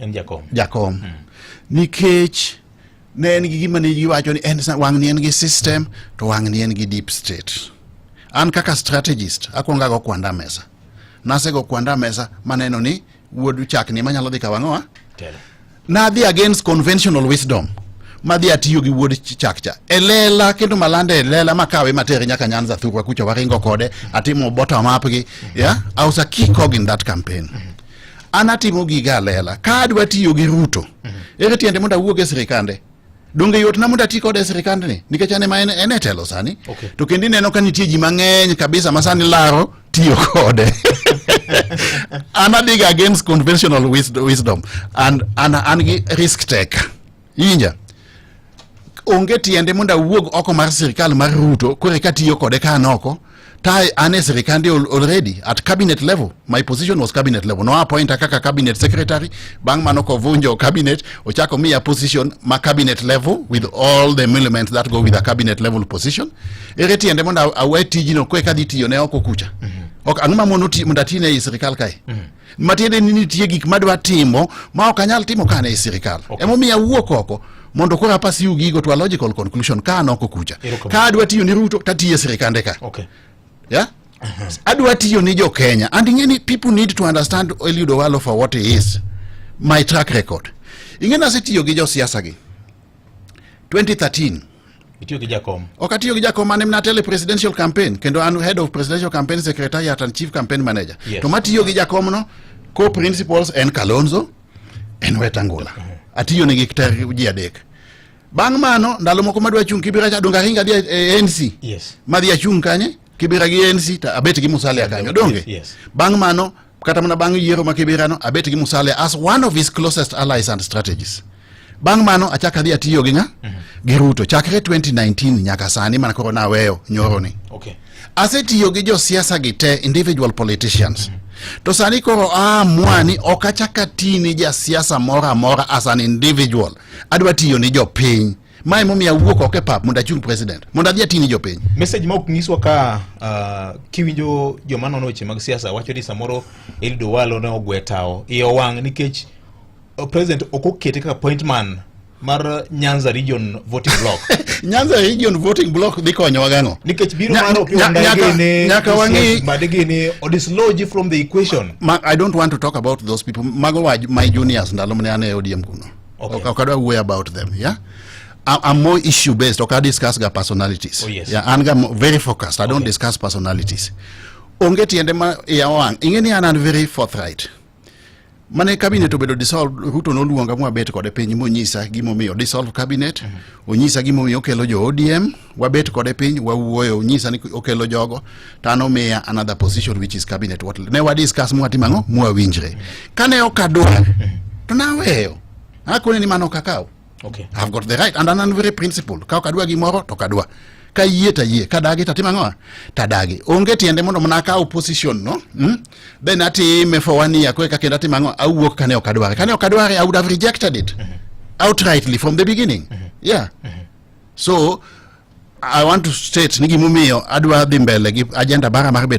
en jakom jakom mm. nikech ne en gi gima ne giwacho ni en wang' ni en gi system to wang' ni en gi deep state an kaka strategist akwongo ago kwanda mesa nasego kwanda mesa maneno ni wuod chak ni manyalo dhi kawang'owa nadhi against conventional wisdom madhi atiyo gi wuod chak cha e lela kendo malanda e lela makawe matere nyaka nyanza thurwa kucho waringo kode atimo bottom up gi yeah i was a key cog in that campaign mm -hmm. an atimo giga alela ka adwa tiyo gi ruto mhm. ere tiende mondo awuog e sirikande donge yotna mondo ati kode e sirikandni nikech an ema en e telo sani okay. to kendo ineno ka nitie ji mang'eny kabisa ma sani laro tiyo kode an adiga against conventional wisdom and an, an gi risk taker Inja. Onge tiende mondo awuog oko mar sirkal mar Ruto kore ka tiyo kode ka an oko. Ta an e sirkande already at cabinet level. My position was cabinet level. No appointa kaka cabinet secretary. Bang' mano kovunjo cabinet, ochako miya position ma cabinet level with all the elements that go with a cabinet level position. Ere tiende mondo awe tijino kore ka dhi tiyo ne oko kucha. Ok ang'o ma mondo ti- mondo atine ei sirkal kae. matiende ni nitie gik madwa timo ma ok anyal timo ka an e sirikal okay. emomiyo awuok oko mondo koro apas yu gigo to a logical conclusion ka an oko kucha ka adwa tiyo ni ruto tatiyo e sirikande ka okay. yeah? adwa tiyo ni jo kenya and ing'e ni people need to understand eliud owalo for what he is my track record ing'e nasetiyo gi josiasa gi 2013 itiyo gi jakom ok atiyo gi jakom mane mnatele presidential campaign kendo an head of presidential campaign secretariat and chief campaign manager yes. to matiyo gi jakom no co principals en kalonzo en wetangula uh-huh. atiyo ne gi ter ji adek bang' mano ndalo moko madwa chung' kibira cha donga hinga dhi e anc yes. madhi achung' kanye kibira gi anc to abet gi musalia kanyo donge yes. bang' mano kata mana bang' yiero ma Kiberano abet gi Musalia as one of his closest allies and strategies bang' mano achak adhi atiyo gi ng'a mhm. gi Ruto chakre 2019 nyaka sani mana koro naweyo nyoroni okay. asetiyo gi josiasa gi te individual politicians mm -hmm. to sani koro aamua ni ok achak ati ni jasiasa moro amora as an individual adwa tiyo ni jopiny mae momiyo awuok oko e pap mondo achung president mondo adhi atini jopiny message ma ok nyiswa ka uh, kiwinjo joma nono weche mag siasa wacho ni samoro Eliud Owalo ne ogwe tawo iye owang' nikech uh, president ok okete kaka point man mar Nyanza region voting block Nyanza region voting block dhi konyowa gang'o nikech biro Nya- mar Opiyo nya- Wandayi nyaka- gini, nyaka Christian wang'i- Mbadi gini odislodge from the equation Ma, I don't want to talk about those people. Mago wa my juniors ndalo mane an e ODM kuno. Okay. Okay, okay, don't worry about them. Yeah. I- I'm more issue based. Okay, I discuss the personalities. Oh, yes. Yeah, and I'm very focused. I don't Okay. discuss personalities. Onge tiende ma ya wang. Ingeni an an very forthright. Mane cabinet obedo dissolve Ruto noluonga mwabet kode piny monyisa gimomiyo dissolve cabinet, onyisa gimomiyo okelo jo ODM, wabet kode piny wawuoyo nyisa ni okelo jogo to an omiya another position which is cabinet what ne wadiscuss mwatimo ang'o mwawinjre kane ok adwar to naweyo akone ni mano ok akaw okay. I've got the right and an very principle ka ok adwa gimoro to kadwa ka yie ta yie ka dagi tatim ang'o ta dagi onge tiende mondo mana akaw position no mm? then atime for one year koe kakendo atim ang'o awuok kane ok adware kane ok adware I would have rejected it mm-hmm. outrightly from the beginning mm-hmm. yeah mm-hmm. so i want to state ni gimomiyo adwa dhi mbele gi agenda bara mar bet